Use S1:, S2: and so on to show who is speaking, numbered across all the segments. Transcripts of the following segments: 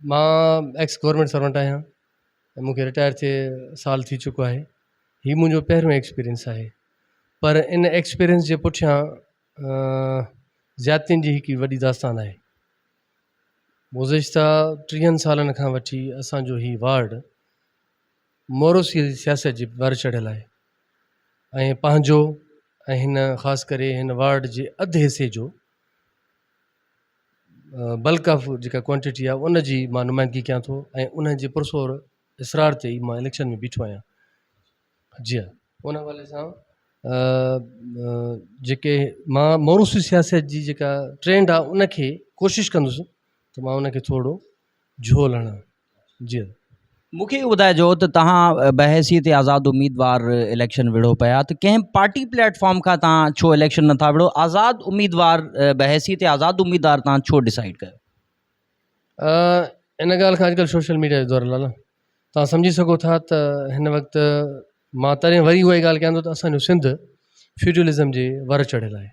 S1: مان ex government servant آهيان ۽ مونکي رٽائر ٿئي سال ٿي چڪو آهي هي منهنجو پهريون ايڪسپيرينس آهي پر ان ايڪسپيرينس جي پٺيان زيادتين جي هڪ وڏي داستان آهي گذشته ٽيهن سالن کان وٺي اسانجو هي وارڊ موروثي جي سياست جي ڀر چڙهيل آهي ۽ پنهنجو ۽ هن خاص ڪري هن وارڊ جي اڌ حصي جو بلڪ آف جيڪا ڪوانٽٽي آهي ان جي مان نمائندگي ڪيان ٿو ۽ انهن جي پرزور اصرار تي ئي مان اليڪشن ۾ بيٺو آهيان جي هان ان حوالي سان جيڪي مان موروثي سياست جي جيڪا ٽرينڊ آهي ان کي ڪوشش ڪندس ته مان ان کي ٿورڙو جهول هڻان جي مون کي اهو ٻڌائجو
S2: ته توهان بحيثيت آزاد اميدوار اليڪشن وڙهو پيا ته ڪنهن پارٽي پليٽ فارم کان توهان ڇو اليڪشن نه ٿا وڙهو آزاد اميدوار بحيثيت آزاد اميدوار توهان ڇو ڊسائيڊ ڪيو
S1: ان ڳالهه کان اڄڪلهه سوشل ميڊيا جو دور لالا توهان سمجهي سگهو ٿا ته هن وقت مان تڏهن وري اهائي ڳالهه ڪيان ٿو ته اسانجو سنڌ فيوڊلزم جي ور چڙهيل آهي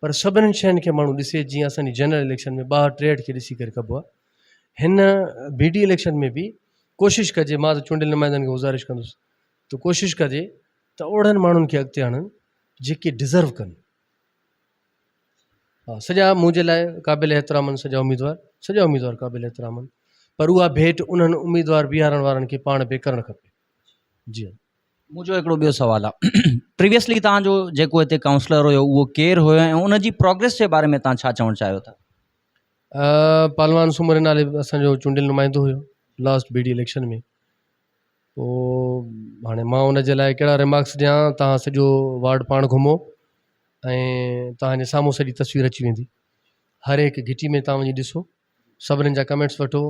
S1: پر سڀنن شين کي ماڻهو ڏسي جيئن اسان جي جنرل اليڪشن ۾ ٻاهر ٽيهٺ کي ڏسي ڪري ڪبو آهي هن بي ڊي اليڪشن ۾ به ڪوشش ڪجي مان ته چونڊيل نمائندن کي گذارش ڪندس ته ڪوشش ڪجي ته اوڙهن ماڻهن کي اڳتي آڻن جيڪي ڊزرو ڪن ها سڄا منهنجي لاء قابل احترام آهن سڄا اميدوار سڄا اميدوار قابل احترام آهن پر اها ڀيٽ انهن اميدوار بيهارڻ وارن کي پاڻ به ڪرڻ کپي جي مون جو هڪڙو ٻيو
S2: سوال آ پريويسلي تان جو جيڪو هتي ڪائونسلر هيو اهو ڪير هيو ۽ ان جي پروگريس جي باري ۾ تان ڇا چوڻ چاهيو ٿا.
S1: پهلوان سومري نالي اسان جو چونڊيل نمائندو هيو لاسٽ بي ڊي اليڪشن ۾ پو هاڻي مان ان جي لاء ڪهڙا ريمارڪس ڏيان تان سڄو وارڊ پاڻ گهمو ۽ تان جي سامهون سڄي تصوير اچي ويندي هر هڪ گهٽي ۾ تان وڃي ڏسو سڀنن جا ڪمينٽس وٺو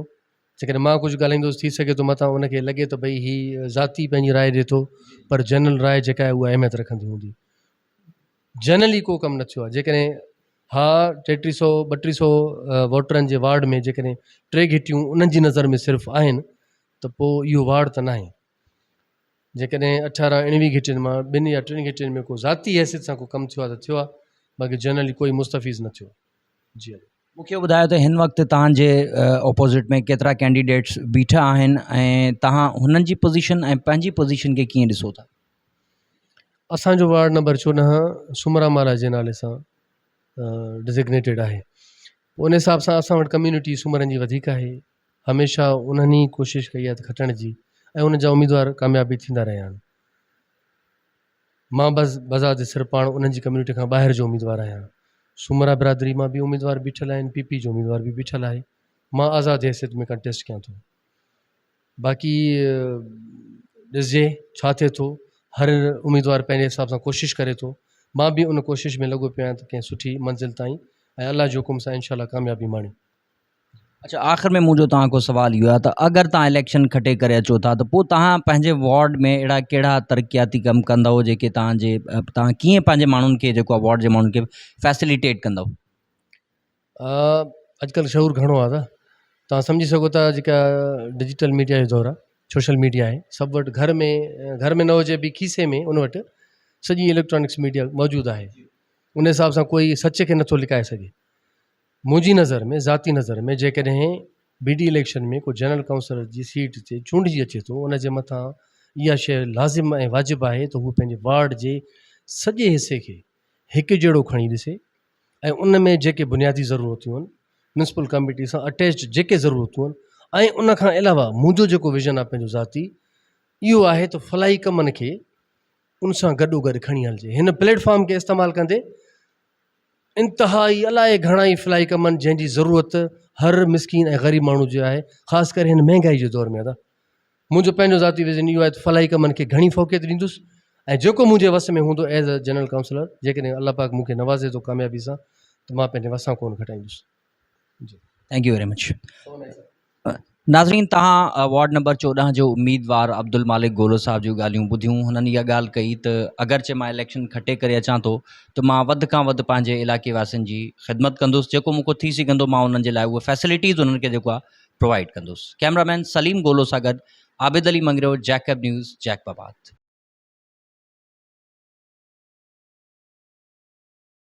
S1: جيڪڏهن مان ڪجهه ڳالهائيندس ٿي سگهي ٿو متان ان کي لڳي ته ڀئي هي ذاتي پنهنجي راء ڏي ٿو پر جنرل راء جيڪا آهي اها اهميت رکندي هوندي. جنرلي ڪو ڪم نه ٿيو آهي جيڪڏهن ها ٽي ٽي سئو ٻه ٽي سئو ووٽرن جي وارڊ ۾ جيڪڏهن ٽي گهٽيون انهن جي نظر ۾ صرف آهن ته پوء اهو وارڊ ته ناهي. جيڪڏهن اٺارهن اڻويهه گهٽين مان ٻن يا ٽن گهٽين ۾ ڪو ذاتي حيثيت سان ڪو ڪم ٿيو آهي ته ٿيو آهي باقي جنرلي ڪوئي مستفيض نه ٿيو. جي مون کي ٻڌايو ته
S2: هن وقت توهان جي اپوزٽ ۾ ڪيترا ڪينڊيڊيٽس بيٺا آهن ۽ توهان هنن جي پوزيشن ۽ پنهنجي پوزيشن کي ڪيئن ڏسو ٿا؟
S1: اسان جو وارڊ نمبر چوڏهن سومرا مهاراج جي نالي سان ڊزگنيٽيڊ آهي ان حساب سان اسان وٽ ڪميونٽي سومرن جي وڌيڪ آهي هميشه انهن ئي ڪوشش ڪئي آهي کٽڻ جي ۽ ان جا اميدوار ڪامياب به ٿيندا رهيا آهن مان به بذات سر پاڻ انهن جي ڪميونٽي کان ٻاهر جو اميدوار آهيان، سومرا برادري مان به اميدوار بيٺل آهن، پي پي جو اميدوار به بيٺل آهي، مان آزاد حيثيت ۾ ڪنٽيسٽ ڪيان ٿو، باقي ڏسجي ڇا ٿئي ٿو، هر اميدوار پنهنجي حساب سان ڪوشش ڪري ٿو، مان به ان ڪوشش ۾ لڳو پيو آهيان ته ڪنهن سٺي منزل تائين ۽ الله جي حڪم سان انشاء الله ڪاميابي ماڻي. اڇا
S2: آخر ۾ منهنجو توهان کان سوال اهو آهي ته اگر توهان اليڪشن کٽي ڪري اچو ٿا ته پوء توهان پنهنجي وارڊ ۾ اهڙا ڪهڙا ترقياتي ڪم ڪندؤ جيڪي توهان جي توهان ڪيئن پنهنجي ماڻهن کي جيڪو وارڊ جي ماڻهن کي فيسليٽيٽ ڪندؤ
S1: اڄڪلهه شعور گهڻو آهي دادا توهان سمجهي سگهو ٿا جيڪا ڊجيٽل ميڊيا جو دور آهي سوشل ميڊيا آهي سڀ وٽ گهر ۾ گهر ۾ نه هجي به کيسي ۾ ان وٽ سڄي اليڪٽرانڪس ميڊيا موجود آهي ان حساب سان ڪوئي سچ کي نٿو لڪائي سگهي منهنجي نظر ۾ ذاتي نظر ۾ جيڪڏهن بي ڊي اليڪشن ۾ ڪو جنرل ڪائونسلر جي سيٽ تي چونڊجي اچي ٿو ان جي مٿان اها شيء لازم ۽ واجب آهي ته هو پنهنجي وارڊ جي سڄي حصي کي هڪ جهڙو کڻي ڏسي ۽ ان ۾ جيڪي بنيادي ضرورتون آهن ميونسپل ڪميٽي سان اٽيچ جيڪي ضرورتون آهن ۽ ان کان علاوه منهنجو جيڪو ويزن آهي پنهنجو ذاتي اهو آهي ته فلاحي ڪمن کي ان سان گڏو گڏ کڻي هلجي هن پليٽ فارم کي استعمال ڪندي انتهائي الائي گهڻائي فلائي ڪمن جنهن جي ضرورت هر مسڪين ۽ غريب ماڻهو جي آهي خاص ڪري هن مهنگائي جي دور ۾ ادا منهنجو پنهنجو ذاتي وزن اهو آهي ته فلائي ڪمن کي گهڻي فوقيت ڏيندس ۽ جيڪو منهنجي وس ۾ هوندو ايز ا جنرل ڪائونسلر جيڪڏهن الله پاڪ مون کي نوازي ٿو ڪاميابي سان ته مان پنهنجي وسان ڪونه گهٽائيندس جي ٿينڪ يو ويري مچ
S2: ناظرين توهان وارڊ نمبر چوڏهن جو اميدوار عبدالمالڪ گولو صاحب جون ڳالهيون ٻڌيون هنن اها ڳالهه ڪئي ته اگرچه مان اليڪشن کٽي ڪري اچان ٿو ته مان وڌ کان وڌ پنهنجي علائقي واسين جي خدمت ڪندس جيڪو مون کان ٿي سگهندو مان انهن جي لاء اهي فيسلٽيز انهن کي جيڪو آهي پرووائيڊ ڪندس ڪيمرا مين سليم گولو سان گڏ Abid Ali Mangrio Jacob news Jacob آباد